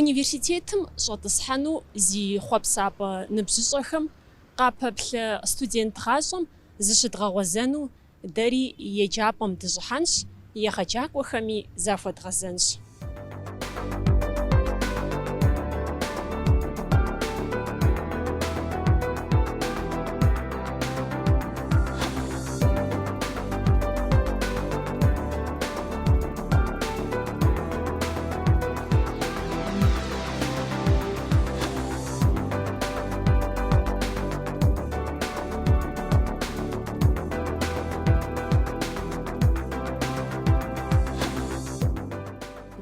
Университетым щӏэтӏысхьэну зи хъуэпсапӏэ ныбжьыщӏэхэм къапэплъэ студент гъащӏэм зыщыдгъэгъуэзэну дэри еджапӏэм дыщӏыхьэнщ, егъэджакӏуэхэми захуэдгъэзэнщ.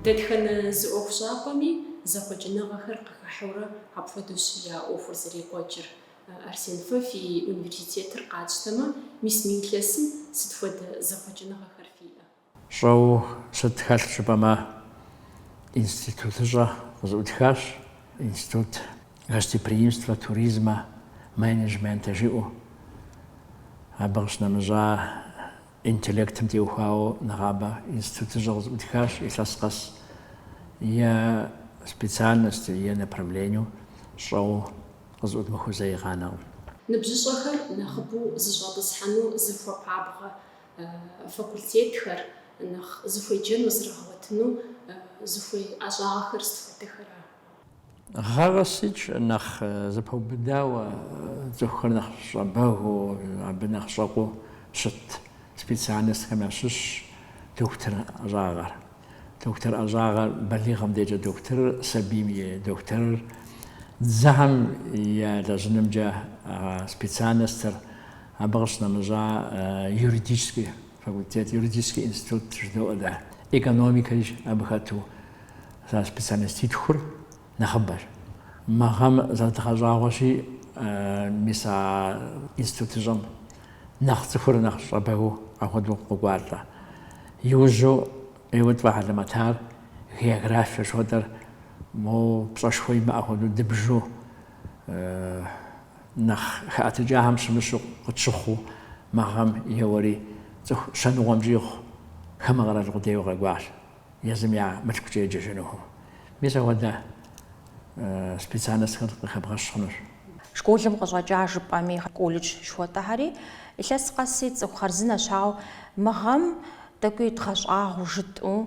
Дэтхэнэ зы ӏуэхущӏапӏэми зэхъуэкӏыныгъэхэр къыхыхьэурэ апхуэдэущ я ӏуэхур зэрекӏуэкӏыр. Арсен фэ фи университетыр къатщтэмэ, мис мы илъэсым сыт хуэдэ зэхъуэкӏыныгъэхэр фиӏэ? Щӏэуэ сыт хэлъ жыпӏэмэ, институтыщӏэ къызэӏутхащ, Институт гостеприимства, туризма, менеджмента жиӏэу. Абы къыщынэмыщӏа, интеллектым теухуауэ нэгъабэ институтыщӏэ къызэӏутхащ, илъэс къэс е специальностью, е направлению щӏэуэ къызэӏудмыхыу зэи къанэкъым. Ныбжьыщӏэхэр нэхъыбэу зыщӏэтӏысхьэну зыхуэпабгъэ факультетхэр, нэхъ зыхуеджэну зрагъэгъуэтыну зыхуей ӏэщӏагъэхэр сыт хуэдэхэра? Гъэ къэсыкӏэ нэхъ зэпэубыдауэ, цӏыхухэр нэхъ щӏэбэгыу, абы нэхъ щӏэкъуу щыт специальностхэм ящыщщ дохутыр ӏэщӏагъэр. Дохутыр ӏэщӏагъэр, балигъым декӏэ дохутырыр, сабийм и дохутырыр, дзэхэм елэжьынымкӏэ специальностыр, Абы къыщынэмыщӏа юридический факультет, юридический институт жыдоӏуэ дэ, экономикэри абы хэту мис а специальноститхур нэхъыбэщ. Мы гъэм зэрыдгъэщӏагъуэщи, мис а институтыщӏэм нэхъ цӏыхур нэхъ щӏэбэгыу апхуэдэу къокӏуалӏэ. Иужьу ӏейуэ тфӏэхьэлэмэтар географие жыхуэтӏэр, моуэ пщӏэшхуэ имыӏэ хуэдэу дыбжу. Нэхъ хэӏэтыкӏахэм щымыщу къытщыхъуу мы гъэм еуэри цӏыху щэныкъуэм щӏигъу хамэ къэрал къудейуэ къэкӏуащ, езым я мылъкукӏэ еджэжынухэу. Мис апхуэдэ специальностхэр къыхэбгъэщ хъунущ. Школым къыщӏэкӏа жыпӏэми, колледж жыхуэтӏэхэри илъэс къэси цӏыху хъарзынэщ, ауэ мы гъэм тӏэкӏуи дгъэщӏагъуэу жытӏэу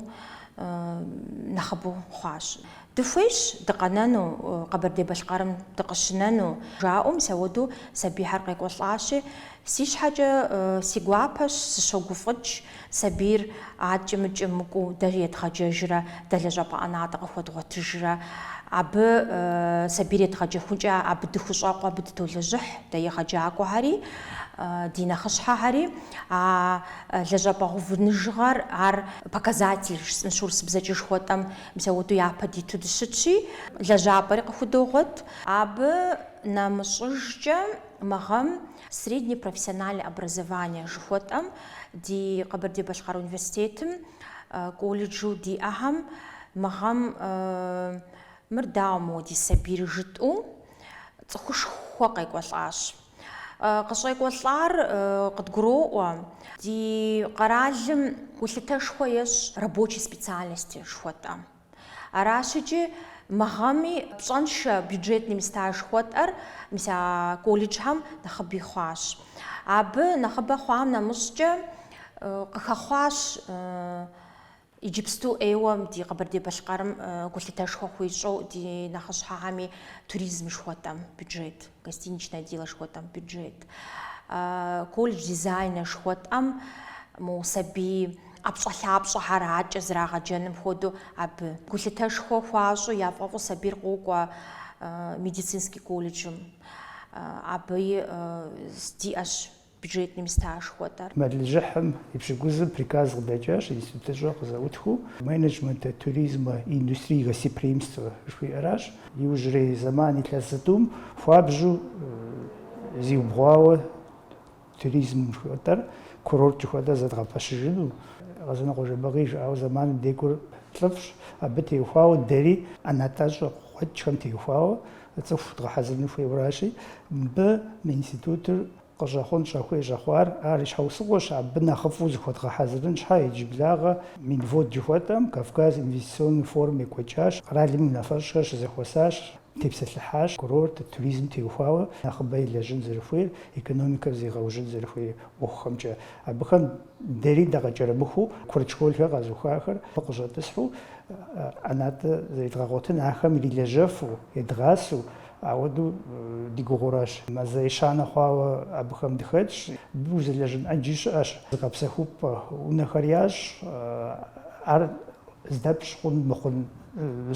нэхъыбэу хъуащ. Дыхуейщ дыкъэнэну, Къэбэрдей-Балъкъэрым дыкъыщынэну, жаӏэу мисауэду сабийхэр къекӏуэлӏащи, си щхьэкӏэ си гуапэщ, сыщогуфӏыкӏ, сабийр адкӏи-мыкӏи мыкӏуу дэ едгъэджэжрэ, дэ лэжьапӏэ ӏэнатӏэ къыхуэдгъуэтыжрэ, абы сабийр едгъэджэхункӏэ абы дыхущӏэкъу, абы дытолэжьыхь, дэ егъэджакӏуэхэри, ди нэхъыщхьэхэри. А лэжьапӏэ гъэувыныжыгъэр ар показатель, жысӏэнщ урысыбзэкӏэ жыхуэтӏэм, Мис ауэдэу япэ диту дыщытщи, лэжьапӏэри къыхудогъуэт. Абы нэмыщӏыжкӏэ мы гъэм Среднее профессиональное образование жыхуэтӏэм ди Къэбэрдей-Балъкъэр университетым колледжу диӏэхэм мы гъэм мыр дауэ мыуэ ди сабийр жытӏэу цӏыхушхуэ къекӏуэлӏащ. Къыщӏекӏуэлӏар къыдгуроӏуэ, ди къэралым гулъытэшхуэ ещӏ рабочий специальности жыхуэтӏэм. Аращыкӏи, мы гъэми пщӏэншэ бюджетный места жыхуэтӏэр мис а колледжхэм нэхъыби хъуащ. Абы нэхъыбэ хъуам нэмыщӏкӏэ къыхэхъуащ Иджыпсту ӏейуэ ди Къэбэрдей-Балъкъэрым гулъытэшхуэ хуищӏэу ди нэхъыщхьэхэми туризм жыхуэтӏэм бюджет, гостиничное дело жыхуэтӏэм бюджет, колледж дизайна жыхуэтӏэм мо сабий ӏэпщӏэлъапщӏэхэр акӏэ зрагъэджэным хуэдэу абы гулъытэшхуэ хуащӏу яфӏэфӏу сабийр къокӏуэ медицинский колледжым. Абы диӏэщ бюджетный места жыхуэтӏэр. Мэлыжьыхьым и пщыкӏузым приказ къыдэкӏащ институтыщӏэ къызэӏутхыу Менеджмента туризма и индустрии гостеприимства жыхуиӏэращ. Иужьрей зэман илъэс зытӏум хуабжьу зиубгъуауэ туризм жыхуэтӏэр, курорт жыхуэтӏэр зэдгъэпэщыжыну Къэзанокъуэ Жэбагъы жиӏауэ зэманым декӏур лӏыфӏщ. Абы теухуауэ дэри ӏэнатӏэщӏэ къуэкӏхэм теухуауэ цӏыху дгъэхьэзырыну хуейуэращи, мыбы мы институтыр Къыщӏэхъун щӏэхуей щӏэхъуар ар и щхьэусыгъуэщ, абы нэхъыфӏу зыхуэдгъэхьэзырын щхьэ иджыблагъэ Минвод жыхуэтӏэм, Кавказ инвестиционный форум екӏуэкӏащ, къэралым и унафэщӏхэр щызэхуэсащ, тепсэлъыхьащ курорт, туризм теухуауэ нэхъыбэ илэжьын зэрыхуейр, экономикэр зегъэужьын зэрыхуей ӏуэхухэмкӏэ. Абыхэм дэри дакъыкӏэрымыхуу курыт школхэр къэзухахэр къыщӏэтӏысхьу ӏэнатӏэ зэредгъэгъуэтын, ахэм ирилэжьэфу, едгъасэу, Ауэдэу ди гугъуращ. Мазэ ещанэ хъуауэ абыхэм дыхэтщ. Узэлэжьын ӏэджи щыӏэщ. Зыгъэпсэхупӏэ унэхэр ящӏ. Ар здэпщӏ хъун мыхъун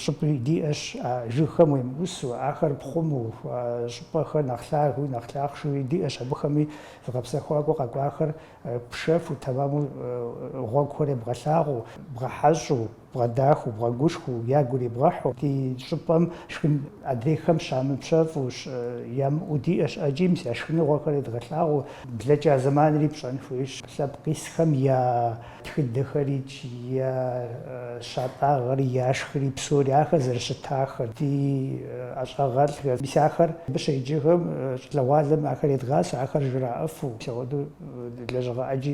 щӏыпӏи диӏэщ. А жыгхэм уемыӏусу, ахэр пхъуму, а щӏыпӏэхэр нэхъ лъагэуи нэхъ лъахъшэуи диӏэщ. Абыхэми зыгъэпсэхуакӏуэ къэкӏуахэр пшэфу, тэмэму гъуэгухэр ебгъэлъагъуу, бгъэхьэщӏу. бгъэдахыу, бгъэгушхуэу, ягу ирибгъэхьу ди щӏыпӏэм шхын адрейхэм щамыпщэфӏу ямыӏэу диӏэщ ӏэджи мис я шхыныгъуэхэр едгъэлъагъуэу блэкӏа зэманри пщӏэн хуейщ. Лъэпкъ исхэм я тхыдэхэрикӏ, я щатӏагъэри, я шхыри псори, ахэр зэрыщытахэр, ди ӏэщӏагъэлӏхэр, мис ахэр абы щеджэхэм щӏалэгъуалэм ахэр едгъасэу, ахэр жраӏэфу, мис ауэдэу лэжьыгъэ ӏэджи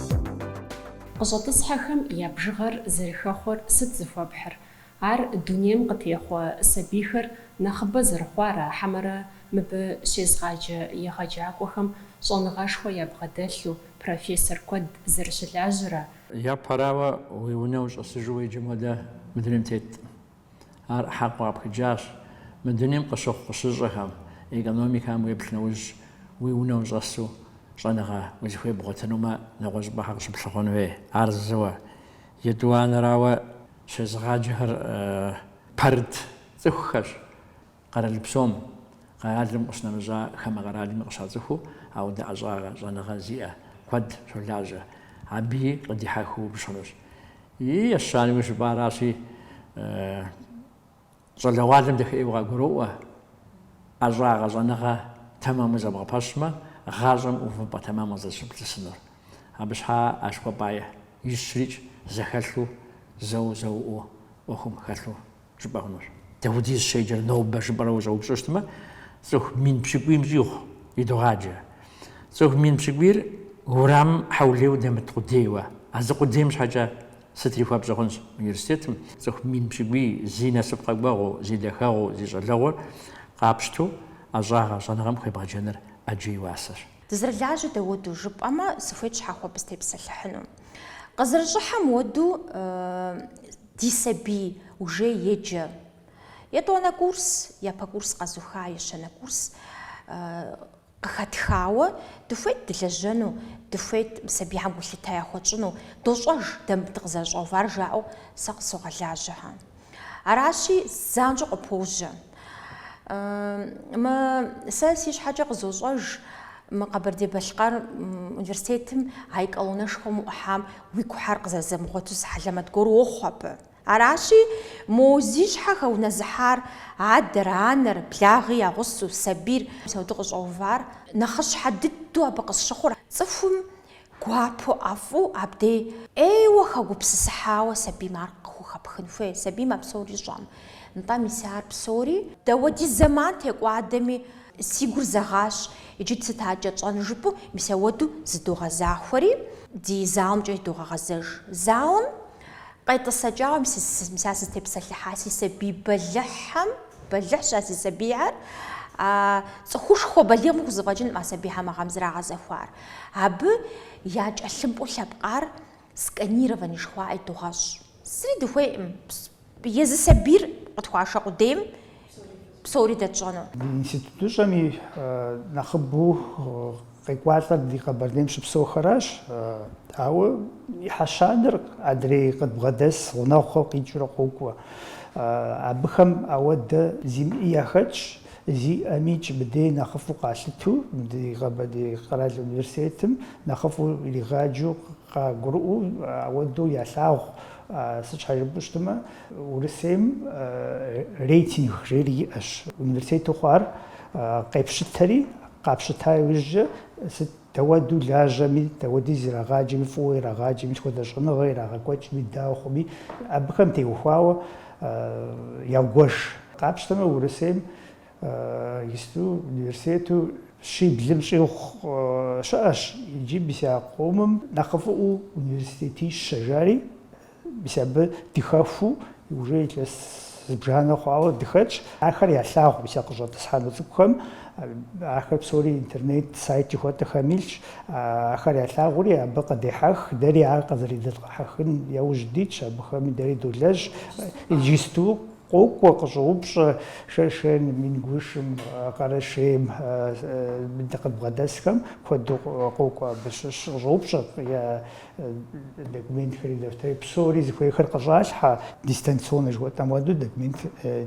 Къыщӏэтӏысхьэхэм я бжыгъэр зэрыхэхъуэр сыт зыхуэпхьыр? Ар дунейм къытехъуэ сабийхэр нэхъыбэ зэрыхъуара хьэмэрэ мыбы щезгъаджэ егъэджакӏуэхэм щӏэныгъэшхуэ ябгъэдэлъу профессор куэд зэрыщылажьэра? Япэрауэ, уи унэ ущӏэсыжу уеджэм хуэдэ мы дунейм тетӏым. Ар хьэкъыу къапхыкӏащ мы дунейм къыщыхъу къыщыщӏэхэм, экономикэм уеплъ нэужь, уи унэ ущӏэсу щӏэныгъэ узыхуей бгъуэтынумэ, нэгъуэщӏыпӏэ щхьэ къыщыплъыхъуэн хуей. Ар зыуэ, етӏуанэрауэ щезыгъаджэхэр пэрыт цӏыхухэщ, къэрал псом, къэралым къыщынэмыщӏа хамэ къэралми къыщацӏыхуу ауэдэ ӏэщӏагъэ, щӏэныгъэ зиӏэ куэд щолажьэ. Аби къыдихьэхыу пщӏынущ. И ещанэуи жыпӏаращи, щӏалэгъуалэм дахеӏэу къагуроӏуэ, ӏэщӏагъэ, щӏэныгъэ тэмэму зэбгъэпэщмэ, гъащӏэм увыпӏэ тэмэму къызэрыщыплъысынур. Абы щхьа а жыхуэпӏаищрикӏ зэхэлъу, зэу-зэуӏуу ӏуэхум хэлъу жыпӏэ хъунущ. Даудиз щеджэр нобэ жыпӏэрэ ущӏэупщӏыщтмэ, цӏыху мин пщыкӏуийм щӏигъу идогъаджэ. Цӏыху мин пщыкӏуийр уэрамым хьэулейуэ дэмыт къудейуэ. А зы къудейм щхьэкӏэ сытри хуэпщӏэ хъунщ университетым. Цӏыху мин пщыкӏуий зи насып къэкӏуэгъуу, зи дахэгъуу, зи щӏалэгъуэр къапщту ӏэщӏагъэ щӏэныгъэм хуебгъэджэныр ӏэджэ и уасэщ. Дызэрылажьэ дауэду жыпӏэмэ, сыхуейт щхьэхуэу абы сытепсэлъыхьыну. Къызэрыщӏыхьэм уэду Ди сабий уже еджэ. Етӏуанэ курс, япэ курс къэзуха, ещанэ курс къыхэтхауэ, дыхуейт дылэжьэну, дыхуейт сабийхэм гулъытэ яхуэтщӏыну, дощӏэж дэ мыбы дыкъызэрыщӏэувар жаӏэу сэ къысогъэлажьэхэ. Аращи, занщӏэу къыпожьэ. Мы сэ си щхьэкӏэ къызощӏэж мы Къэбэрдей-Балъкъэр университетым а колоннэшхуэм уӏухьам уи гухэр къызэрызэмыгъуэту зы хьэлэмэт гуэр уохъу абы. Аращи, мо зи щхьэ хэунэзыхьар, адэр, анэр, благъи я гъусэу, сабийр, мис ауэдэу къыщӏэувар нэхъыщхьэ дыдэу абы къысщыхъур цӏыхум Гуапэу ӏэфӏу абдей. ӏейуэ хэгупсысыхьауэ сабийм ар къыхухэпхын хуей, сабийм а псори щӏэм, нтӏэ, мис ар псори. Дауэдиз зэман текӏуадэми. Си гур зэгъащ, иджы сыт акӏэ тщӏэн жыпӏэу, мис ауэду зыдогъэзахуэри, ди залымкӏэ догъэгъэзэж. Залым къетӏысэкӏауэ, мис ар сызытепсэлъыхьа си сабий бэлыхьхэм, бэлыхьщ а си сабийхэр, цӏыхушхуэ балигъым хузэфӏэкӏынкъым а сабийхэм а гъэм зрагъэзэхуар. Абы я тхылъымпӏэу лъэпкъар сканирование жыхуаӏэри догъэщӏ. Зыри дыхуейкъым, езы сабийр къытхуашэ къудейм псори дэтщӏэну. Ди институтыщӏэм и нэхъыбэу къекӏуалӏэр ди Къэбэрдейм щыпсэухэращ, ауэ ӏыхьэ щанэр адрей къыдбгъэдэс гъунэгъухэу къикӏыурэ къокӏуэ. Абыхэм ауэдэ зимыӏи яхэтщ. Зиӏэмикӏ мыбдей нэхъыфӏу къалъыту, ди Къэбэрдей къэрал университетым нэхъыфӏу иригъаджу къагурыӏуэу, ауэдэу ялъагъу. Сыт щхьэ жыпӏэу щытмэ, Урысейм рейтинг жери иӏэщ. Университету хъуар къепщытэри, къапщыта иужькӏэ сыт Дауэду лажьэми, дауэдиз ирагъаджэми, фӏыуэ ирагъаджэми, сыт хуэдэ щӏэныгъэ ирагъэкӏуэкӏми, дауэ хъуми, абыхэм теухуауэ ягуэш. Къапщтэмэ, Урысейм исыту, университету щиблым щӏигъу щыӏэщ, иджы мис а къомым нэхъыфӏыӏуэу университетищэ жари, Мис абы дыхэхуу уже илъэс зыбжанэ хъуауэ дыхэтщ. Ахэр ялъагъу мис а къыщӏэтӏысхьэну цӏыкӏухэм. Ахэр псори интернет сайт жыхуэтӏэхэм илъщ. Ахэр ялъагъури абы къыдехьэх. Дэри ар къызэрыдэтхьэхын яужь дитщ, абыхэми дэри долэжь. Иджысту къокӏуэ, къыщӏоупщӏэ Шэшэным, Ингушым, Къэрэшейм дэ къыдбгъэдэсхэм куэду къокӏуэ абы щыщ. Къыщӏоупщӏэ я документхэри, дэфтэри псори зыхуейхэр къыщӏалъхьэ, дистанционнэ жыхуэтӏэм хуэдэу документ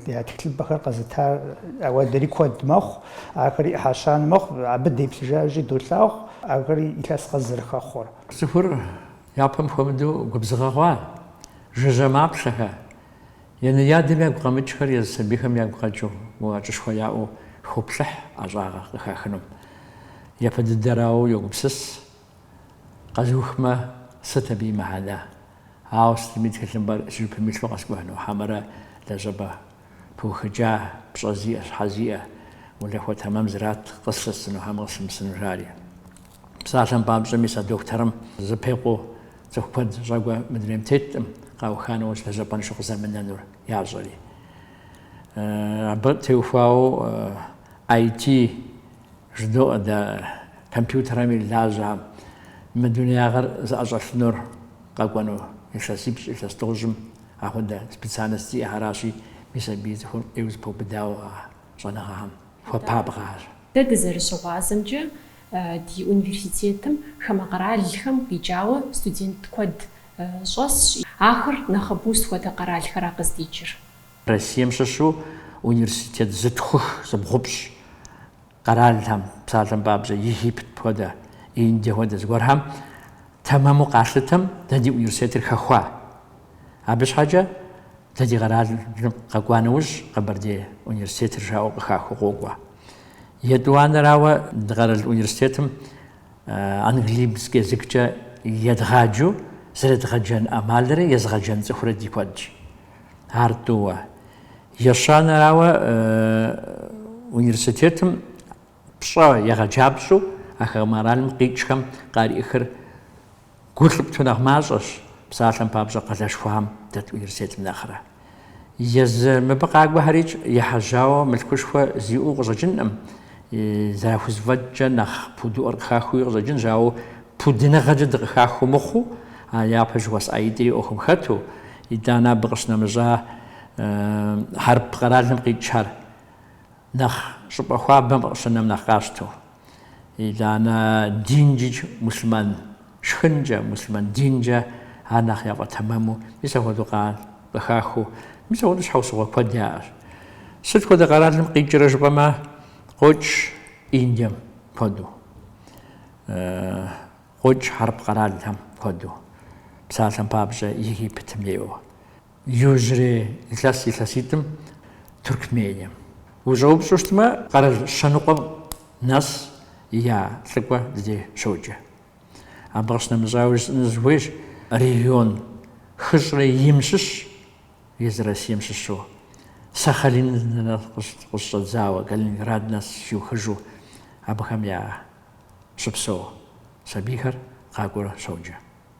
я тхылъымпӏэхэр къэзыта ауэдэри куэд мэхъу, ахэри ӏыхьэ щанэ мэхъу, абы деплъыжащи долъагъу, ахэри илъэс къэс зэрыхэхъуэр. Цӏыхур япэм хуэмыдэу губзыгъэ хъуа, жыжьэ маплъэхэ, янэ-ядэм ягу къэмыкӏхэр езы сабийхэм ягу къэкӏыу, уӏэкӏышхуэ яӏэу хоплъыхь ӏэщӏагъэ къыхахынум. Япэ дыдэрауэ йогупсыс Къэзухмэ, сыт абы и мыхьэнэ? Ауэ сытми тхылъымпӏэр си жыпым илъу къэскӏухьыну хьэмэрэ лэжьапӏэ пыухыкӏа, пщӏэ зиӏэ, щхьэ зиӏэ, улахуэ тэмэм зрат къыслъысыну хьэмэ къыслъымысыну жари. Псалъэм папщӏэ, мис а дохутырым зыпекъуу цӏыху куэд щӏэкӏуэ мы дунейм теткъым, къауха нэужь лэжьапӏэншэу къызэмынэнур ящӏэри. Абы теухуауэ IT Жыдоӏэ дэ компьютерэми лажьэ мы дунеягъэр зыӏэщӏэлъынур къэкӏуэну. Илъэсипщӏ, илъэс тӏощӏым ахуэдэ специальность зиӏэхэращи, мис абы и цӏыхур ӏейуэ зэпэубыдауэ а щӏэныгъэхэм хуэпабгъэу аращ. Дэ дызэрыщыгъуазэмкӏэ, ди университетым хамэ къэралхэм къикӏауэ студент куэд щӏэсщ. Ахэр нэхъыбэу сыт хуэдэ къэралхэра къыздикӏыр? Россием щыщу университет зытхух зыбгъупщӏ къэралхэм, псалъэм папщӏэ, Египет хуэдэ, Индие хуэдэ зыгуэрхэм тэмэму къалъытэм дэ ди университетыр хэхуа. Абы щхьэкӏэ дэ ди къэралым къэкӏуа нэужь Къэбэрдей университетыр жаӏэу къыхахыу къокӏуэ. Етӏуанэрауэ, ди къэрал университетым английский языккӏэ едгъаджэу зэредгъэджэн ӏэмалрэ езгъэджэн цӏыхурэ ди куэдщ. Ар тӏууэ. Ещанэрауэ, университетым пщӏэ егъэджапщӏэу а хамэ къэралым къикӏхэм къариӏыхыр Гу лъыптэу нэхъ мащӏэщ псалъэм папщӏэ къалэшхуэхэм дэт университетым нэхърэ. Езы мыбы къакӏуэхэрикӏ ехьэжьауэ мылъкушхуэ зиӏэу къыщӏэкӏынӏым, зэрахузэфӏэкӏкӏэ нэхъ пудыӏуэр къыхахыуи къыщӏэкӏынщ, ауэ пудыныгъэкӏэ дыкъыхахыу мыхъуу, а япэ жыхуэсӏаитӏри ӏуэхум хэту, итӏанэ абы къыщынэмыщӏа хьэрып къэралым къикӏхэр. Нэхъ щӏыпӏэ хуабэм къыщынэм нэхъ къащтэу, итӏанэ динкӏикӏ муслъымэн шхынкӏэ, муслъымэн динкӏэ ар нэхъ яфӏэтэмэму, мис апхуэдэу къа къыхахыу, мис апхуэдэу щхьэусыгъуэ куэд яӏэщ. Сыт хуэдэ къэралым къикӏрэ жыпӏэмэ, къокӏ Индием куэду, къокӏ хьэрып къэралхэм куэду, псалъэм папщӏэ Египетым ӏейуэ. Иужьрей илъэс илъэситӏым Туркмением. Ущӏэупщӏэу щытмэ, къэрал щэныкъуэм нэс я лӏыкӏуэ ди дей щоджэ. Абы къыщынэмыщӏауэ жысӏэну сыхуейщ, регион хыщӏрэ им щыщ, езы Россием щыщу, Сахалиным къыщыщӏэдзауэ, Калининград нэс щиухыжу абыхэм я щыпсэу сабийхэр къакӏуэурэ щоджэ.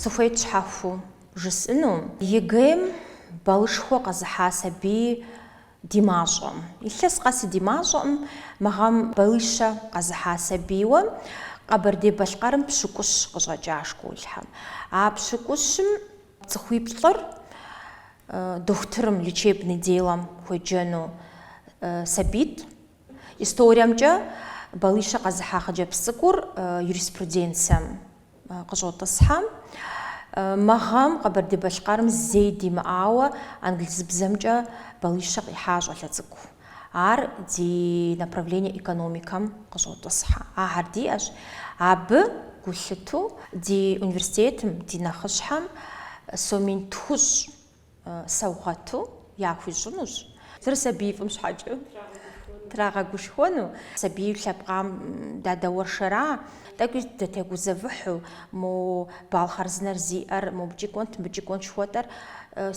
Сыхуейт щхьэхуэу жысӏэну ЕГЭ-м балышхуэ къэзыхьа сабий ди мащӏэм. Илъэс къэси ди мащӏэӏым, мы гъэм балыщэ къэзыхьа сабийуэ Къэбэрдей-Балъкъэрым пщыкӏущ къыщӏэкӏа школхэм. А пщыкӏущым Цӏыхуиплӏыр дохутырым, лечебный делэм хуеджэну сабийт. Историемкӏэ балищэ къэзыхьа хъыджэбз цӏыкӏур юриспруденцием къыщӏотӏысхьэ. Мы гъэм Къэбэрдей-Балъкъэрым зэи димыӏауэ англызыбзэмкӏэ балищэ къихьа щӏалэ цӏыкӏу. Ар ди направление экономикэм къыщӏотӏысхьэ. Ахэр диӏэщ. Абы гулъыту ди университетым, ди нэхъыщхьэм сом мин тхущӏ саугъэту яхуищӏынущ. Зыр сабий фӏым щхьэкӏэ трагъэгушхуэну, сабий лъэпкъам дадэуэршэра, тӏэкӏуи дытегузэвыхьу, мо балл хъарзынэр зиӏэр, мобыкӏи кӏуэнт, мыбыкӏи кӏуэнт жыхуэтӏэр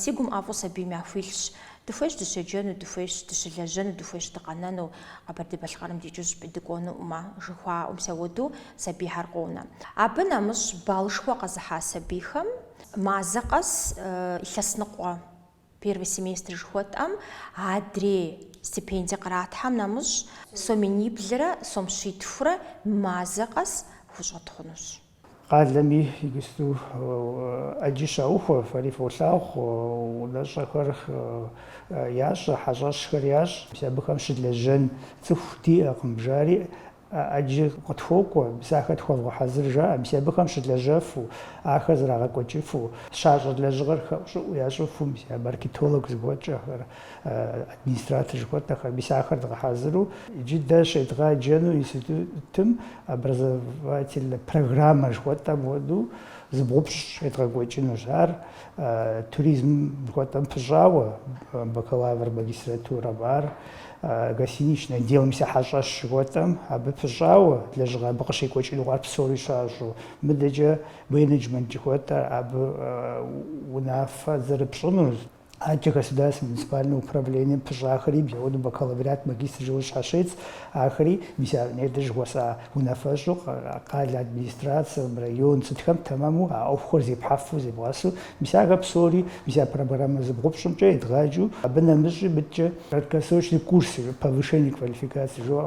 си гум ӏэфӏу сабийм яхуилъщ. Дыхуейщ дыщеджэну, дыхуейщ дыщылэжьэну, дыхуейщ дыкъэнэну, Къэбэрдей-Балъкъэрым дикӏыу зыщӏыпӏи дыкӏуэнуӏым, жыхуаӏэу, мис ауэдэу сабийхэр къонэ. Абы нэмыщӏ баллышхуэ къэзыхьа сабийхэм мазэ къэс илъэс ныкъуэ, первый семестр жыхуэтӏэм, адрей стипендие къратхэм нэмыщӏ, сом миниблрэ сом щитхурэ мазэ къэс хущӏэдгъунущ. Къалэми иджысту ӏэджи щаухуэ, фэри фолъагъу, унэщӏэхэр ящӏэ, хьэщӏэщхэр ящӏ. Мис абыхэм щылэжьэн цӏыху диӏэкъым, жари ӏэджи къытхуокӏуэ, мис ахэр тхуэвгъэхьэзыр, жаӏэ. Мис абыхэм щылэжьэфу, ахэр зрагъэкӏуэкӏыфу, щащӏэ лэжьыгъэр хэӏущӏыӏу ящӏыфу, мис а маркетолог жыхуэтӏэхэр. администратор жыхуэтӏэхэр мис ахэр дгъэхьэзыру иджы дэ щедгъэджэну институтым образовательнэ программэ жыхуэтӏэм хуэдэу зыбгъупщӏ щедгъэкӏуэкӏынущ. Ар туризм жыхуэтӏэм пыщӏауэ бакалавр магистратурэм, ар гостиничное дело, мис а хьэщӏэщ жыхуэтӏэм абы пыщӏауэ лэжьыгъэ абы къыщекӏуэкӏыну, ар псори щащӏу. Мыдэкӏэ менеджмент жыхуэтӏэр абы унафэ зэрыпщӏынур. Адэкӏэ государственнэ муниципальнэ управлением пыщӏахэри, бзэуэну бакалавриат, магистр жыуэ щащец, ахэри мис а нетӏэ жыхуэсӏа унафэщӏу къалэ администрацэм, район, сытхэм тэмэму а ӏуэхухэр зепхьэфу, зебгъэсу, мис ахэр псори, мис а программэ зыбгъупщӏымкӏэ едгъаджэу, абы нэмыщӏи мыдэкӏэ краткосрочный курсы, повышение квалификации жыуэ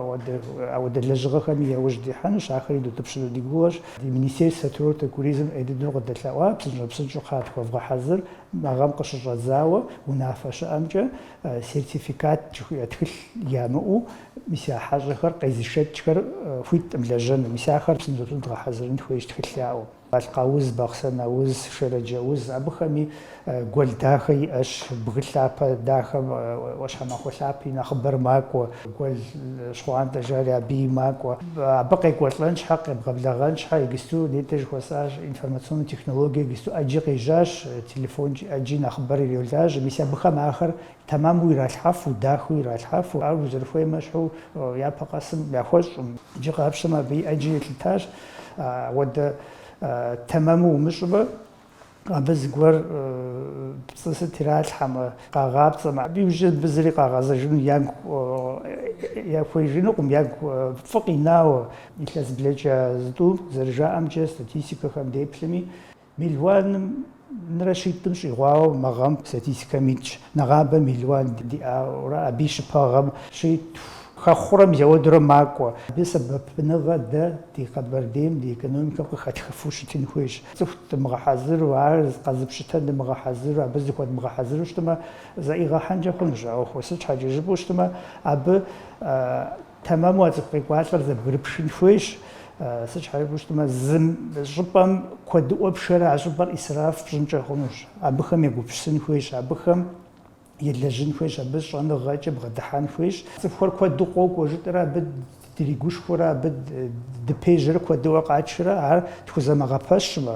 ауэдэ лэжьыгъэхэми яужь дихьэнущ, ахэри дутӏыпщыну ди гугъэщ. Ди министерствэ Транспорта туризм ӏей дыдэу къыдэлъэӏуа, псынщӏэу-псынщӏэу кхъа, тхуэвгъэхьэзыр, Мы гъэм къыщыщӏэдзауэ унафэ щыӏэмкӏэ сертификат жыхуиӏэ тхылъ ямыӏэу, мис а хьэщӏэхэр къезышэкӏхэр хуиткъым лэжьэну, мис ахэр псынщӏэу дгъэхьэзырын хуейщ тхылъ яӏэу. Балъкъ ауз, Бахъсэн ауз, Шэрэдж ауз, абыхэми гуэл дахэ иӏэщ, бгы лъапэ дахэм ӏуащхьэмахуэ лъапи нэхъыбэр макӏуэ. Гуэл щхъуантӏэ жари аби макӏуэ. Абы къекӏуэлӏэн щхьэ, къебгъэблэгъэн щхьэ иджысту нетӏэ жыхуэсӏащ информационнэ технологие иджысту ӏэджи къежьащ, телефонкӏи ӏэджи нэхъыбэр иролажьэ. Мис абыхэм ахэр тэмэму иралъхьэфу, дахэу иралъхьэфу, ар узэрыхуейм ещхьу япэ къэсым яхуэщӏӏым. Иджы къапщтэмэ абы ӏэджи елъытащ. Ауэдэ тэмэму умыщӏмэ. Абы зыгуэр пцӏы сыт иралъхьэмэ, къагъапцӏэмэ, абы иужь мыбы зыри къагъэзэжыну ягу хуеижынукъым, ягу фӏы къинауэ. Илъэс блэкӏа зытӏу зэрыжаӏэмкӏэ, статистикэхэм деплъми, миллионым нрэ щитӏым щӏигъуауэ мы гъэм статистикэм итщ, нэгъабэ миллион диӏауэрэ абы и щыпэгъэм щитху. Хэхъурэ мис ауэдурэ макӏуэ. Абы сэбэпыныгъэ дэ ди Къэбэрдейм ди экономикэм къыхэтхыфу щытын хуейщ. Цӏыху дымыгъэхьэзыру, ар къэзыпщытэн дымыгъэхьэзыру, абы зыхуэдмыгъэхьэзыру щытмэ, зэӏигъэхьэнкӏэ хъунущ. А ӏуэху сыт щхьэкӏэ жыпӏэу щытмэ, абы тэмэму а цӏыху къекӏуалӏэр зэбгрыпшын хуейщ. Сыт щхьэ жыпӏэу щытмэ, зы щӏыпӏэм куэдыӏуэ пшэрэ а щӏыпӏэр ӏисраф пщӏынкӏэ хъунущ. Абыхэм егупсысын хуейщ, абыхэм. елэжьын хуейщ, абы щӏэныгъэкӏэ бгъэдыхьэн хуейщ. Цӏыхухэр куэду къокӏуэ жытӏэрэ абы дригушхуэрэ, абы дыпежьэрэ куэдыӏуэ къатшэрэ, ар тхузэмыгъэпэщмэ,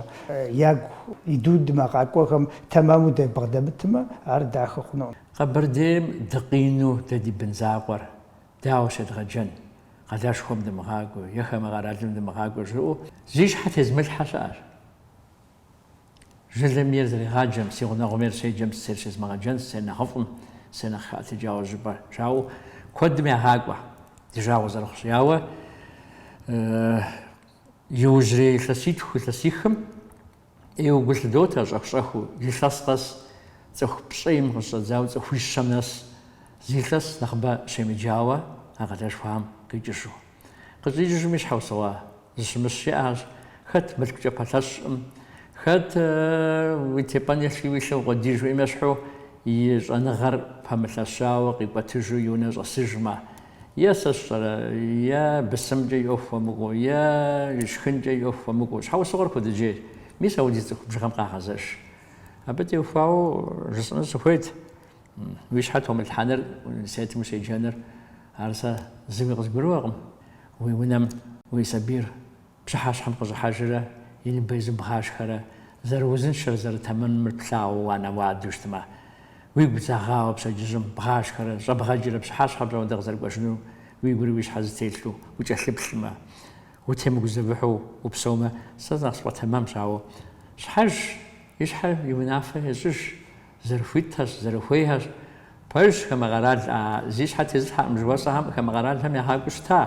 ягу идудмэ къакӏуэхэм тэмэму дабгъэдэмытмэ, ар дахэ хъунукъым. Къэбэрдейм дыкъину дэ ди бын закъуэр, дауэ щедгъэджэн, къалэшхуэм дымыгъакӏуэ, е хамэ къэралым дымыгъакӏуэ жиӏэу зи щхьэ тезмылъхьэ щыӏэщ. Жылэм ейр зэригъаджэм, си гъунэгъум ейр щеджэм, сысейр щезмыгъэджэн, сысейр нэхъыфӏым, сысейр нэхъ хэӏэтыкӏауэ щӏыпӏэ жаӏэу куэдым ягъакӏуэ, ди жагъуэ зэрыхъущи, ауэ иужьрей илъэситху, илъэсихым ӏейуэ гу лъыдотэ, щӏэх-щӏэхыу, илъэс къэс, цӏыху пщӏейм къыщӏэдзауэ, цӏыхуищэм нэс, зилъэс нэхъыбэ щемыджауэ а къалэшхуэхэм къикӏыжу. Къыщӏикӏыжым и щхьэусыгъуэ зыщымыщ щыӏэщ, хэт мылъкукӏэ пэлъэщӏым, хэт уи тепӏэн еплъи уи лъэ укъуэдий жиӏэм ещхьу и щӏэныгъэр пэмылъэщауэ къикӏуэтыжу и унэ щӏэсыжмэ, е сэ сщӏэрэ, е бысымкӏэ и ӏуэху хуэмыкӏуэу, е шхынкӏэ и ӏуэху хуэмыкӏуэу, щхьэусыгъуэр куэдыкӏейщ, мис ауэдиз цӏыху бжыгъэм къагъэзэж. Абы теухуауэ жысӏэну сыхуейт. Уи щхьэ томылъхьэныр, университетым ущеджэныр, ар сэ зыуи къызгурыӏуэкъым. Уи унэм уи сабийр пщыхьэщхьэм къыщӏыхьэжрэ и ныбэ изу бгъашхэрэ, зэрыузыншэр, зэрытэмэмыр плъагъуу уанэу-уадэу щытмэ, уигу зэгъауэ пщэдджыжьым бгъашхэрэ, щӏэбгъэкӏрэ, пщыхьэщхьэ пщӏондэ къызэрыкӏуэжыну уигурэ уи щхьэ зэтелъу укӏэлъыплъмэ, утемыгузэвыхьу упсэумэ, сэ нэхъ сфӏэтэмэмщ, ауэ щхьэж и щхьэ и унафэ ещӏыж. Зэрыхуитхэщ, зэрыхуейхэщ. Пэжщ, хамэ къэрал а зи щхьэ тезылъхьэм жыхуэсӏэхэм хамэ къэралхэм ягъакӏуу щыта.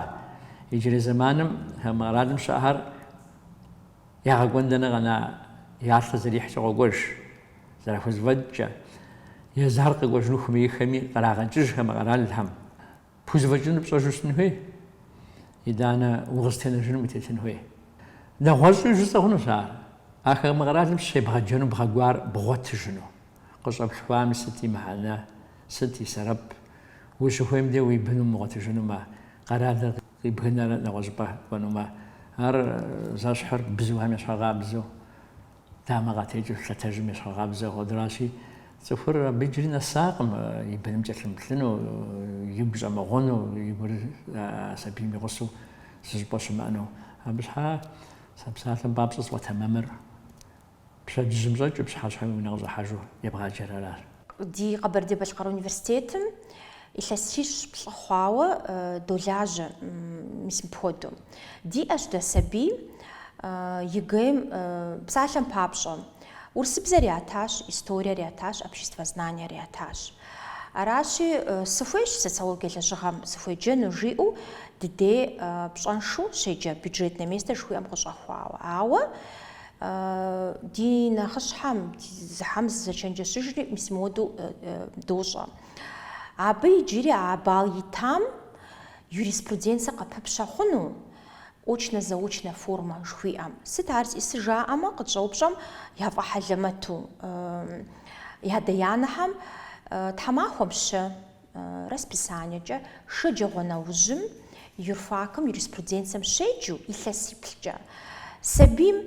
Иджырей зэманым хамэ къэралым щыӏэхэр ягъэкӏуэн дэнэ къэна я лъэр зэрихькӏэ къокӏуэж. Зэрахузэфӏэкӏкӏэ, езыхэр къэкӏуэжыну хуэмейхэми, кърагъэкӏыж хамэ къэралхэм. Пхузэфӏэкӏыныр пщӏэжу щытын хуей, итӏанэ укъызытенэжыным утетын хуей. Нэгъуэщӏи жысӏэ хъунущ ар, а хамэ къэралым щебгъэджэну бгъэкӏуар бгъуэтыжыну. Къыщӏэплъхуами сыт и мыхьэнэ, сыт и сэрэп? Ущыхуейм де уи бын умыгъуэтыжынумэ, къэралыр къибгынэрэ нэгъуэщӏыпӏэ кӏуэнумэ, ар зэщхьыр бзухэм ещхьыркъабзэу. Дамэ къатекӏэу лъэтэжым ещхьыркъабзэ хуэдэращи, цӏыхур абы иджыри нэсакъым, и быным кӏэлъымыплъыну, игу щӏэмыгъуэну, и гур сабийм и гъусэу зыщӏыпӏэ щымыӏэну. Абы щхьа сэ псалъэм папщӏэ сфӏэтэмэмыр пщэдджыжьым щӏэкӏыу пщыхьэщхьэм и унэ къыщӏыхьэжу ебгъаджэр аращ. Ди Къэбэрдей-Балъкъэр университетым илъэсищ-плӏы хъуауэ долажьэ мис мыпхуэдэу. Диӏэщ дэ сабий ЕГЭ-м псалъэм папщӏэ. Урысыбзэр ятащ, историер ятащ, обществознаниер ятащ. Аращи, сыхуейщ социологие лэжьыгъэм сыхуеджэну жиӏэу дыдей пщӏэншэу щеджэ, бюджетное место жыхуиӏэм къыщӏэхуауэ. Ауэ Ди нэхъыщхьэм, езыхэм дызэчэнджэщыжри мис мыуэду дощӏэ. Абы иджыри а балл итам юриспруденцэ къыпыпщэ хъуну, очно-заочно формэ жыхуиӏэм? Сыт ар зищӏысыр жаӏэмэ, къытщӏэупщӏэм яфӏэхьэлэмэту ядэ-янэхэм, тхьэмахуэм щэ, Расписаниекӏэ шэджагъуэ нэужьым юрфакым юриспруденцием щеджу илъэсиплӏкӏэ, сабийм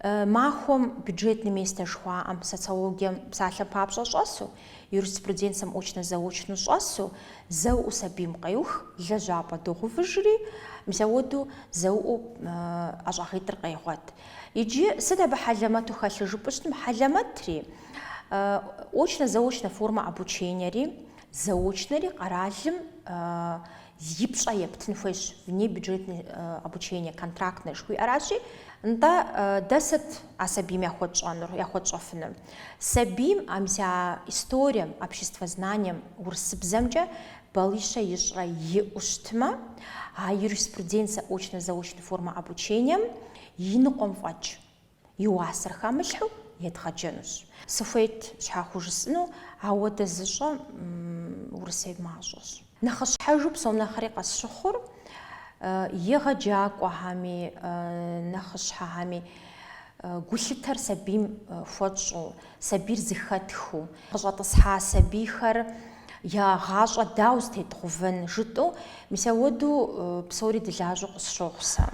махуэм бюджетный местэ жыхуаӏэм, социологием псалъэм папщӏэ щӏэсу, юриспруденцием очно-заочну щӏэсу зэуэ сабийм къеух, лэжьапӏэ догъэувыжри, мисауэду зэуэ ӏэщӏагъитӏыр къегъуэт. Иджы сыт абы хьэлэмэту хэлъыр жыпӏэщтым, хьэлэмэтри, Очно-заочно формэ обучениери заочнэри къэралым и пщӏэ ептын хуейщ, внебюджетный обучение, контрактное жыхуиӏэращи, нтӏэ дэ сыт а сабийм яхуэтщӏэнур, яхуэтщӏэфынур? Сабийм а мис а историем, обществознанием, урысыбзэмкӏэ балищэ ищӏрэ иӏэу щытмэ, а юриспруденцэ очно-заочный формэ обучением и ныкъуэм фӏэкӏ. И уасэр хамылъхьу едгъэджэнущ. Сыхуейт щхьэхуэу жысӏыну, ауэдэ зыщӏэ Урысейм мащӏэщ. Нэхъыщхьэжу псом нэхъри къэсщыхъур, егъэджакӏуэхэми, нэхъыщхьэхэми гулъытэр сабийм хуэтщӏу, Сабийр зыхэтхыу, къыщӏэтӏысхьа сабийхэр я гъащӏэ дау зытедгъувэн жытӏэу, мис ауэду псори дылажьэу къысщохъу сэ.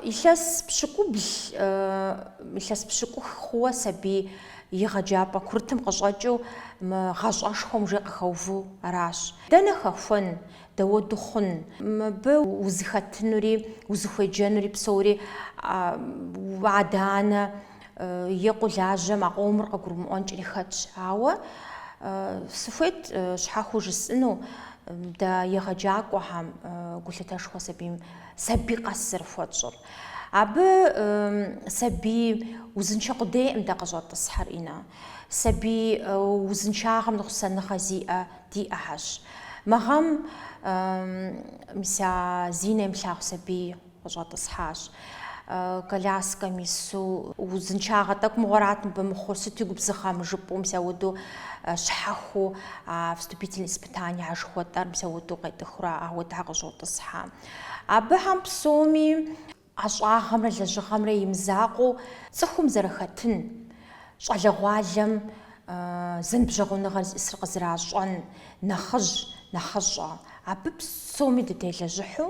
Илъэс пщыкӏубл, илъэс пщыкӏух хъууэ сабий егъэджапӏэ курытым къыщӏэкӏыу мы гъащӏэшхуэм уже къыхэуву аращ. Дэнэ хэхуэн, дауэду хъун? Мыбы узыхэтынури, узыхуеджэнури псори адэ-анэ. е къулажьэм а къомыр къыгурымыӏуэнкӏри хэтщ. Ауэ сыхуейт щхьэхыу жысӏыну дэ егъэджакӏуэхэм гулъытэшхуэ сабийм сабий къэс зэрыхуэтщӏыр. Абы сабий узыншэ къудейкъым дэ къыщӏэтӏысхьэр, Инна. Сабий узыншагъэм ныкъусаныгъэ зиӏэ диӏэхьэщ. Мы гъэм мис а зи нэ имылъагъу сабий къыщӏэтӏысхьащ коляскэм ису. Узыншагъэ тӏэкӏу мыгъуэрат мыбы мыхъур, сыту губзыгъэ мыр жыпӏэу мис ауэду щхьэхыу а вступительный испытание а жыхуэтӏэр мис ауэду къетӏыхурэ ауэ дэ къыщӏотӏысхьэ. Абыхэм псоми ӏэщӏагъэмрэ лэжьыгъэмрэ имызакъуэу цӏыхум зэрыхэтын, щӏалэгъуалэм зэныбжьэгъуныгъэр зиӏысыр къызэращӏэн нэхъыжь, нэхъыщӏэ. Абы псоми дытелэжьыхьу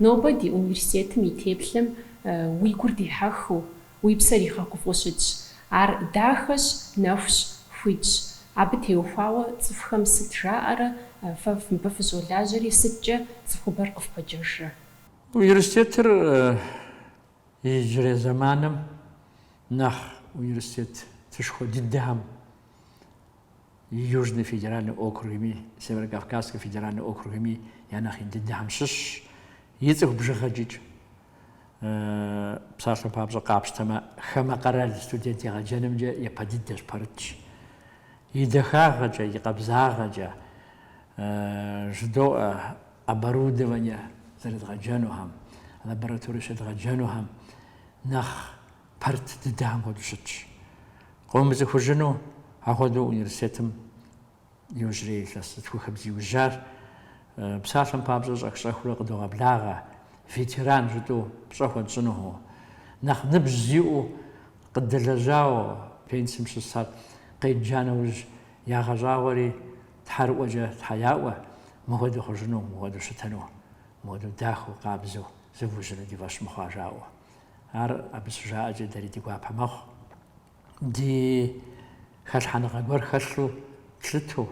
Нобэ ди университетым и теплъэм уи гур дихьэхыу, уи псэр игъэгуфӏу щытщ. Ар дахэщ, нэхущ, хуитщ. Абы теухуауэ цӏыхухэм сыт жаӏэрэ, фэ мыбы фыщӏолажьэри сыткӏэ цӏыхубэр къыфпэджэжрэ? Университетыр Иджырей зэманым нэхъ университетышхуэ дыдэхэм и Южный федеральный округми, Северокавказскэ федеральный округми я нэхъ ин дыдэхэм щыщщ. И цӏыху бжыгъэкӏыкӏ псалъэм папщӏэ къапщтэмэ, хамэ къэрал студент егъэджэнымкӏэ япэ дыдэщ, пэрытщ. И дахагъэкӏэ, и къабзагъэкӏэ жыдоӏэ оборудование зэрыдгъэджэнухэм, лабораторие щыдгъэджэнухэм нэхъ пэрыт дыдэхэм хуэдэу щытщ. Къыумыцӏыхужыну ахуэдэу университетым иужьрей илъэс зытхухым зиужьар псалъэм папщӏэ щӏэх-щӏэхыурэ къыдогъэблагъэ, ветеран жытӏэу пщӏэ хуэтщӏынуху, нэхъ ныбжь зиӏэу къыдэлэжьауэ пенсием щысар къедджа нэужь ягъэщӏагъуэри Тхьэрыӏуэкӏэ Тхьэ яӏуэ, мыхуэдэу хъужыну, мыхуэдэу щытыну, мыхуэдэу дахэу, къабзэу, зывужьыну ди фӏэщ мыхъуа жаӏэу. Ар абы щыжаӏэкӏэ дэри ди гуапэ мэхъу. Ди хэлъхьэныгъэ гуэр хэлъу, тлъыту,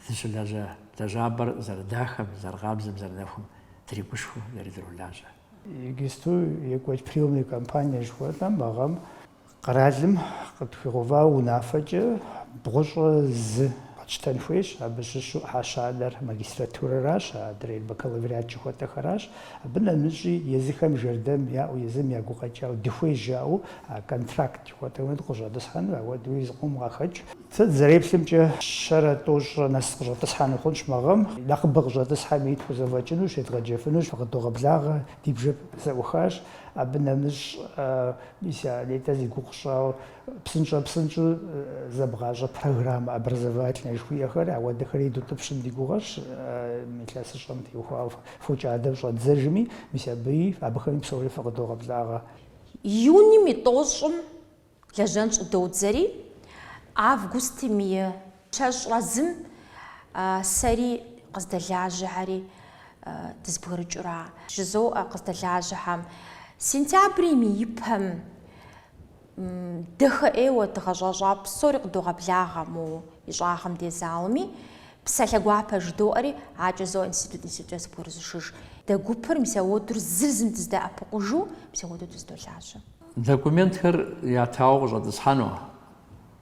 дыщылэжьэ лэжьапӏэр зэрыдахэм, зэрыкъабзэм, зэрынэхум дригушхуэу, дэри дролажьэ. Иджысту екӏуэкӏ приемная кампания жыхуэтӏэм мы гъэм Къэралым къытхуигъэувауэ унафэкӏэ бгъущӏэ зы къэтщтэн хуейщ, абы щыщу ӏыхьэ щанэр магистратурэращ, адрейр бакалавриат жыхуэтӏэхэращ. Абы нэмыщӏи езыхэм жэрдэм яӏэу, езым я гукъэкӏауэ, дыхуей жаӏэу контракт жыхуэтӏэу къыщӏэтӏысхьэну, ауэдэуи зыкъом къахэкӏ. Сэ сызэреплъымкӏэ, щэрэ тӏощӏрэ нэс къыщӏэтӏысхьэну хъунщ мы гъэм, нэхъыбэ къыщӏэтӏысхьэми тхузэфӏэкӏынущ, едгъэджэфынущ, къыдогъэблагъэ, ди бжэр зэӏухащ. Абы нэмыщӏ. Мис а нетӏэ зи гугъу сщӏауэ псынщӏэ-псынщӏэу зэбгъащӏэ программэ образовательнэ жыхуиӏэхэр, ауэдэхэри дутӏыпщын ди гугъэщ, илъэсыщӏэм теухуауэ фокӏадэм щӏэддзэжми, мис абыи, абыхэми псори фыкъыдогъэблагъэ. Июним и тӏощӏым лэжьэн щӏыдодзэри, августым и. Щэщӏрэ зым сэри къыздэлажьэхэри дызэбгрыкӏыурэ, жызоӏэ къыздэлажьэхэм, сентябрим и ипэм дахэ ӏейуэ дыгъэщӏэщӏа псори къыдогъэблагъэ мо ищӏагъым дей залми, псалъэ гуапэ жыдоӏэри адэкӏэ зоӏэ институт институткӏэ зэбгрызышыж. Дэ гупыр мис ауэдэурэ зыр зым дызэдэӏэпыкъужу мис ауэдэу дызэдолажьэ. Документхэр ятауэ къыщӏэтӏысхьэну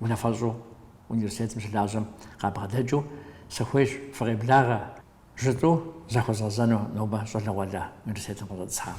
Унафэщӏу университетым щылажьэм къабгъэдэкӏыу сыхуейщ фыкъеблагъэ, жытӏэу захуэзгъэзэну нобэ щӏалэгъуалэ университетым къыщӏэтӏысхьам.